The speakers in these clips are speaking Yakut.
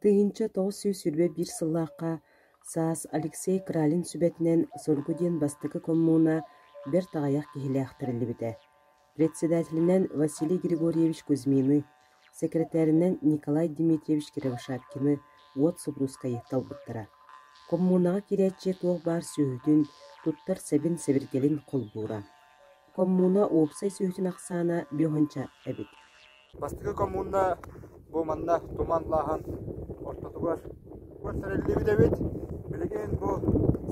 Тыһыынча тоҕус сүүс сүүрбэ биир сыллаахха саас Алексей Кралин сүбэтинэн Соргу диэн бастакы коммуна бэрт аҕыйах киһилээх тэриллибитэ, председателинэн Василий Григорьевич Кузьмины, сэкирэтээринэн Николай Дмитриевич Кривошапкины уот супруускайы талбыттара. Коммунаҕа киирээччи туох баар сүөһүтүн, туттар сэбин-сэбиргэлин холбуура Коммуна уопсай сүөһүтүн ахсаана биоһунча эбит. Бастакы коммуна бу манна туман лааһын ортотугар көрсөрүллүбүт эбит. Билигин бу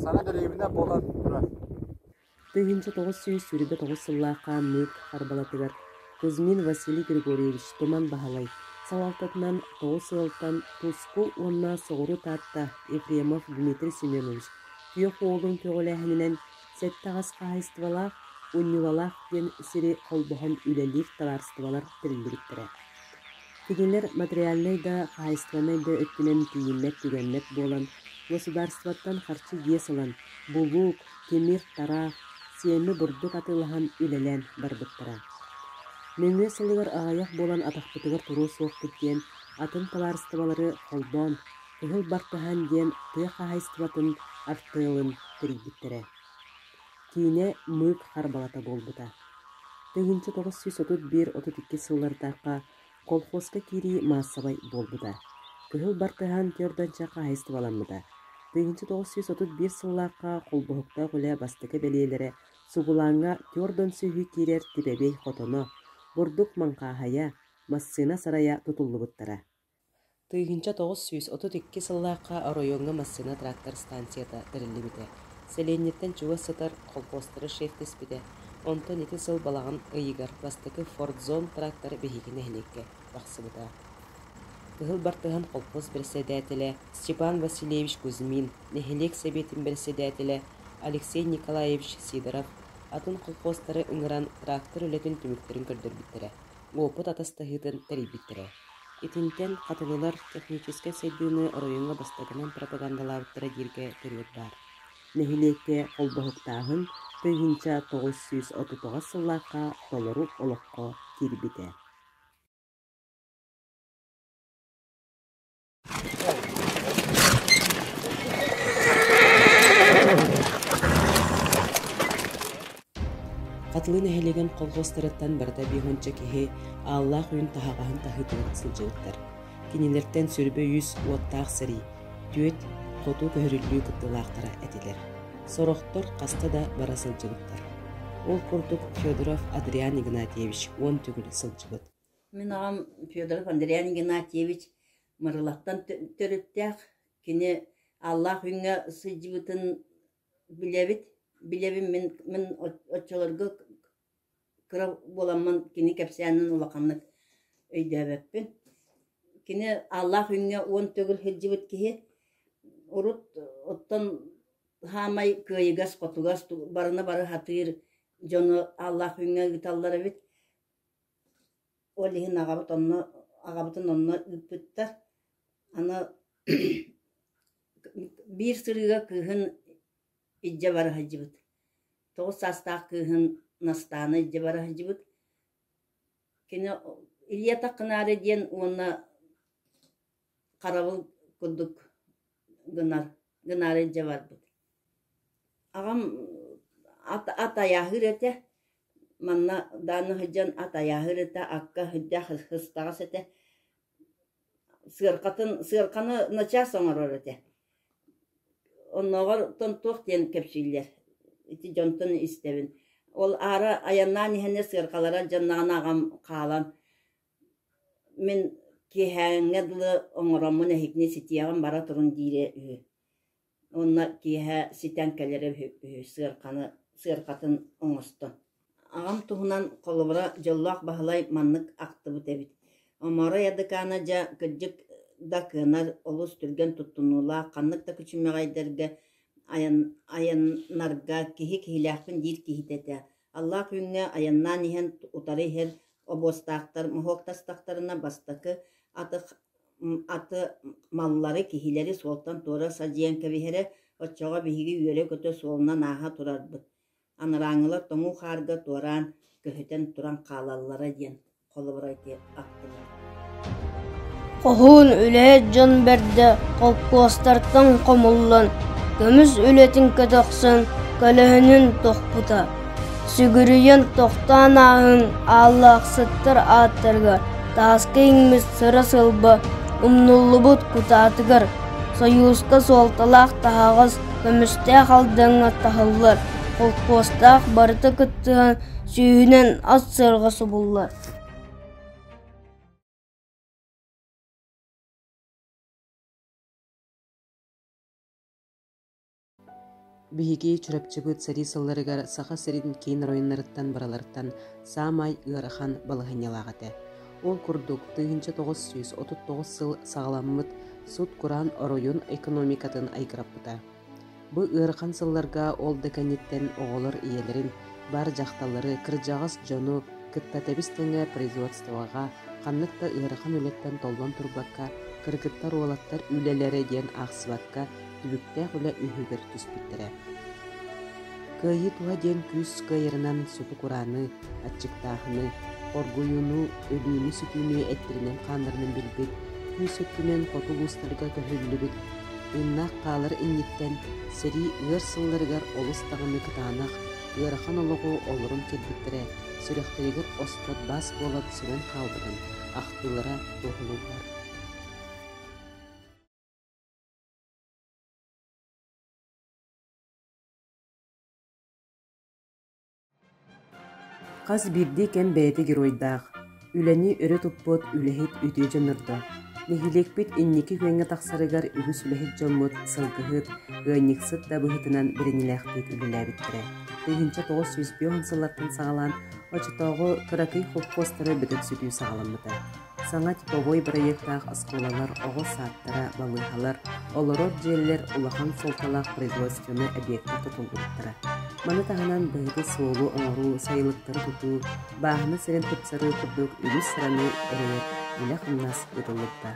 саҥа дэриэбинэ буолан турар. Тыһыынча тоҕус сүүс сүүрбэ тоҕус сыллаах хаанныыр харбалатыгар Кузьмин Василий Григорьевич Туман Баһылай салалтатынан тоҕус ыалтан Туску уонна Соҕуру Таатта Ефремов Дмитрий Семенович күөх уолун көҕүлээһининэн Сэттэҕэс хаһаайыстыбалаах Унньуулалаах диэн сири холбоһон үлэлиир табаарыстыбалар тэриллибиттэрэ. Кинилэр материальнай да, хаһаайыстыбаннай да өттүнэн тиийиммэт-түгэммэт буолан, государствоттан харчы иэс ылан, булуук, тимир-тара, сиэмэ бурдук атыылаһан үлэлээн барбыттара. Нөҥүө сылыгар аҕыйах буолан атахпытыгар туруо суохпут диэн атын табаарыстыбалары холбоон, Кыһыл бартаһан диэн тыа хаһаайыстыбатын артыалын тэрийбиттэрэ. Киинэ мыык харбалата буолбута. Тыһыынча тоҕус сүүс отут биир отут икки сыллардаахха колхозка киирии маассабай буолбута. Кыһыл бартыһаан түөрдэнчэ хаһаайыстыбаламмыта. Тыһыынча тоҕус сүүс отут биир сыллаахха холбоһуктаах үлэ бастакы бэлиэлэрэ сугулааҥҥа түөрдөн сүүһү киирэр типэбэй хотоно, бурдук маҥхааһайа, массыына сарайа тутуллубуттара. Тыыһынча тоҕус сүүс отут икки сыллаахха оройуоҥҥа массыына трактор ыстаансыйата тэриллибитэ, сэлиэнньэттэн чугас сытар колхозтары шефтэспитэ, онтон ити сыл балаҕан ыйыгар бастакы «Форт-Зон» трактор биһиги нэһилиэккэ тахсыбыта. Кыһыл бартыһан колхоз бэрэссэдээтэлэ Степан Васильевич Кузьмин, нэһилиэк сэбиэтин бэрэссэдээтэлэ Алексей Николаевич Сидоров атын колхозтары ыҥыран трактор үлэтин түмүктэрин көрдөрбүттэрэ, уопут атастаһыытын тэрийбиттэрэ. Итинтэн хатылылар техническэй сайдыыны оройуоҥҥа бастакынан пропагандалаабыттара дииргэ төрүөт баар. Нэһилиэккэ холбоһуктааһын тыһыынча тоҕус сүүс отутуҕас сыллаахха толору олоххо киирбитэ. Хатылы нэһилиэгин колхуостарыттан барыта биэһунча киһи ааллаах үүн таһаҕаһын таһыытыгар сылдьыбыттар. Кинилэртэн сүрбэ үс уоттаах сэрии, түөрт хоту көһөрүллүү кыттыылаахтара этилэр. Сорохтор хаста да бара сылдьыбыттар. Ол курдук Федоров Адриан Игнатьевич уон төгүл сылдьыбыт. Мин аҕам Федоров Андриан Игнатьевич Мырылаттан төрүттээх, кини Аллаах Үҥҥэ сылдьыбытын билэбит. Билэбин мин мин оччолорго кыра буоламмын кини кэпсээнин улаханнык өйдөөбөппүн. Кини Аллаах Үҥҥэ уон төгүл сылдьыбыт киһи, урут оттон хаамай кыайыгас-хотугас барыны бары сатыыр дьону Аллаах Үҥҥэ ыыталлар эбит. Ол иһин аҕабыт онно аҕабытын онно ыыппыттар. Аны биир сырыыга кыыһын илдьэ бара сылдьыбыт. Тоҕус саастаах кыыһын Настааны илдьэ бара сылдьыбыт. Кини «Илья Таххынаары» диэн уонна харабыл курдук гына гынаары дьэ барбыт аҕам ат ат айааһыыр этэ манна даанна сылдьан ат айааһыыр этэ акка сылдьа сыстаҕас этэ сыаркатын сыарканы начаас оҥорор этэ оннооҕор тон туох диэн кэпсииллэр ити дьонтон истэбин ол аара айаннаан иһэн сыаркалара дьонноҕун аҕам хаалан Мин киэһээҥҥэ дылы оҥороммун эһигини ситиэҕим бара турун диирэ үһү уонна киэһэ ситэн кэлэрэ үһү үһү сыарканы сыаркатын оҥосто. Аҕам туһунан холобура дьоллоох Баһылай маннык ахтыбыт эбит: «Оморо Ядыкаана дьэ, кырдьык да кыанар, олус түргэн туттунуулаах, ханнык да күчүмэҕэйдэргэ айан айаннарга киһи киһилээхпин» диир киһитэ этэ. Аллаах Күҥҥэ айаннаан иһэн утары иһэр обуостаахтар моһуоктастахтарына бастакы атых аты маллары киһилэри суолтан туора садьыйан кэбиһэрэ оччоҕо биһиги үөрэ-көтө суолунан ааһа турарбыт анарааҥҥылар тоҥуу хаарга туораан көһүтэн туран хаалаллара диэн Хоһуун үлэ дьон бэрдэ холкуостартан хомуллан, көмүс үлэтин көтөхсөн, көлөһүнүн тохпута, сүгүрүйэн тохтоон ааһын ааллаахсыттар ааттарыгар тааска иҥмит сыра сылба умнуллубут кутаатыгар, сойууска суолталаах таһаҕас, көмүстээх алдаҥҥа таһыллар холкуостаах барыта кыттыһан сүүһүнэн ас сыарҕа субуллар Биһиги Чурапчыбыт сэрии сылларыгар Саха сирин киин оройуннарыттан барыларыттан саамай ыарахан балаһыанньалаах этэ. Ол курдук, тыһыынча тоҕус сүүс отут тоҕус сыл саҕаламмыт сут-кураан оройун экономикатын айгыраппыта. Бу ыарахан сылларга ол да кэнниттэн оҕолор ийэлэрин, бар дьахталлары, кырдьаҕас дьону кытта тэбис тэҥэ производствоҕа ханнык да ыарахан үлэттэн толлон турбакка, кыргыттар уолаттар үлэлэрэ диэн аахсыбакка, түбүктээх үлэ үһүгэр түспүттэрэ. Кыайыы туһа диэн күүс кыайарынан суту курааны, Аччыктааһыны, оргуйууну, өлүүнү-сүтүүнү эттэринэн-хааннарынан билбит, күүс өттүнэн хоту улуустарга көһүллүбүт, тыыннаах хаалар инниттэн сэрии ыар сылларыгар олус даҕаны кытаанах, ыарахан олоҕу олорон кэлбиттэрэ сүрэхтэригэр оспот баас буолан сүмэн хаалбытын ахтыылара туоһулууллар. Хас биирдии кэм бэйэтэ геройдаах, үлэни өрө туппут үлэһит үтүө дьоннордо. Нэһилиэкпит инники күөҥҥэ тахсарыгар үгүс үлэһит дьоммут, сылгыһыт, ыанньыксыт да быһыытынан бэриниилээхтик үлэлээбиттэрэ. Тыһыынча тоҕус сүүс биэс сыллартан саҕалаан оччотооҕу кыракый холкуостары бөтөхсүтүү саҕаламмыта. Саҥа типовой бырайыактаах оскуолалар, оҕо саадтара, балыыһалар, олорор дьиэлэр улахан суолталаах производственнай объекка тутуллубуттара. Маны таһынан биһиги суолу оҥоруу, сайылыктары тутуу, бааһына сирин тупсарыы курдук үгүс сыраны эрэйэр үлэ-хамнас ыытыллыбыта.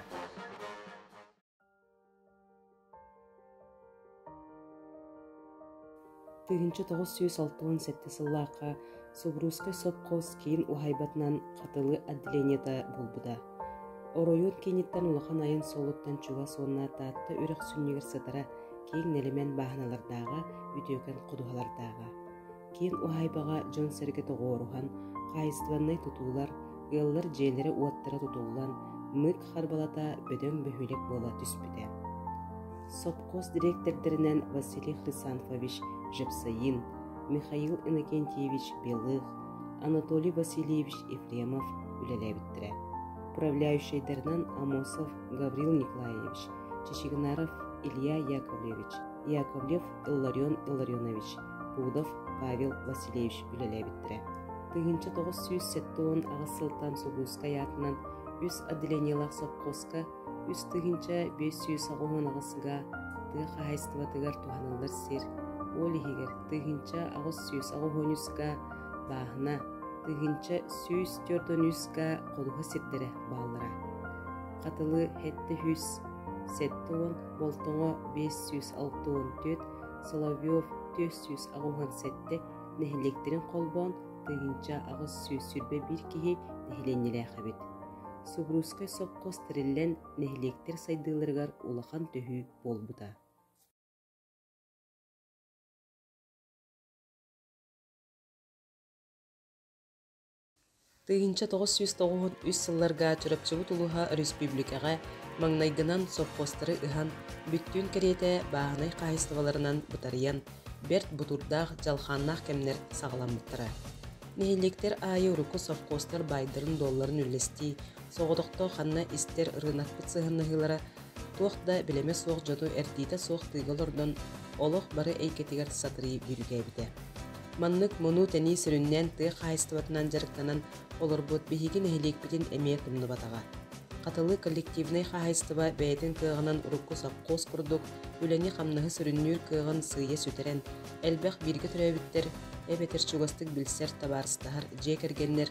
тыһыынча тоҕус сүүс алта уон сэттэ сыллаахха субуруускай сопхуос киин уһайбатынан хатылы отделениета буолбута оройуон кииниттэн улахан айын суолуттан чугас уонна таатта үрэх сүнньүгэр сытара киэҥ нэлэмэн бааһыналардааҕа үтүөкэн ходуһалардааҕа киин уһаайбаҕа дьон-сэргэ тоҕуоруһан, хаһаайыстыбаннай тутуулар, ыаллар дьиэлэрэ-уоттара тутуллан, мыык харбалата бөдөҥ бөһүөлэк буола түспүтэ. Сопхуос дириэктэрдэринэн Василий Хрисанфович Жепсаин, Михаил Иннокентьевич Белых, Анатолий Васильевич Ефремов үлэлээбиттэрэ. Управляющайдарынан Амосов Гаврил Николаевич, Чечигнаров Илья Яковлевич, Яковлев Илларион Илларионович, Кудов Павел Васильевич үлэлээбиттэрэ. Тыһыынча тоҕус сүүс сэттэ уон аҕыс сылтан Сулуускай аатынан үс отделениелаах совхозка үс тыһыынча биэс сүүс аҕыһын аҕысга тыа хаһаайыстыбатыгар туһаныллар сир, уол иһигэр тыһыынча аҕыс сүүс аҕыһыыньыска бааһына, тыһыынча сүүс төрдөнүүска холуһа сирдэрэ бааллара. Хатылы сэттэ уон, болтоҥо биэс сүүс алты уон Соловьев түөрт сүүс аҕыһын сэттэ нэһилиэктэрин холбоон тыйынча аҕыс сүүс сүүрбэ биир киһи нэһилиэнньэлээх эбит. Субуруускай сопхуос тэриллэн нэһилиэктэр сайдыыларыгар улахан төһүү буолбута. Тыһыынча тоҕус сүүс тоҕуһут үс сылларга Чурапчыбыт улуһа өрөспүүбүлүкэҕэ маҥнайгынан сопхуостары ыһан, бүттүүн кэриэтэ бааһынай хаһаайыстыбаларынан бытарыйан, бэрт бутуурдаах дьалхааннаах кэмнэр саҕаламмыттара. Нэһилиэктэр аайы урукку сопхуостар баайдарын-дуолларын үллэстии, соҕотохто ханна истэр ырыынакпыт сыһыаннаһыылара туох да билимэ суох дьону эрдиитэ суох тыыга олордон, олох бары эйгэтигэр сатырый дьүрүгээбитэ. Маннык мунуу-тэнии сүрүннээн тыа хаһаайыстыбатынан дьарыктанан олорбут биһиги нэһилиэкпитин эмиэ тумнубатаҕа. Хатылы коллективнай хаһаайыстыба бэйэтин кыаҕынан урукку сопхуос курдук үлэни-хамнаһы сүрүннүүр кыаҕын сыыйа сүтэрэн, элбэх бииргэ төрөөбүттэр, эбэтэр чугастык билсэр, табаарыстаһар дьиэ кэргэннэр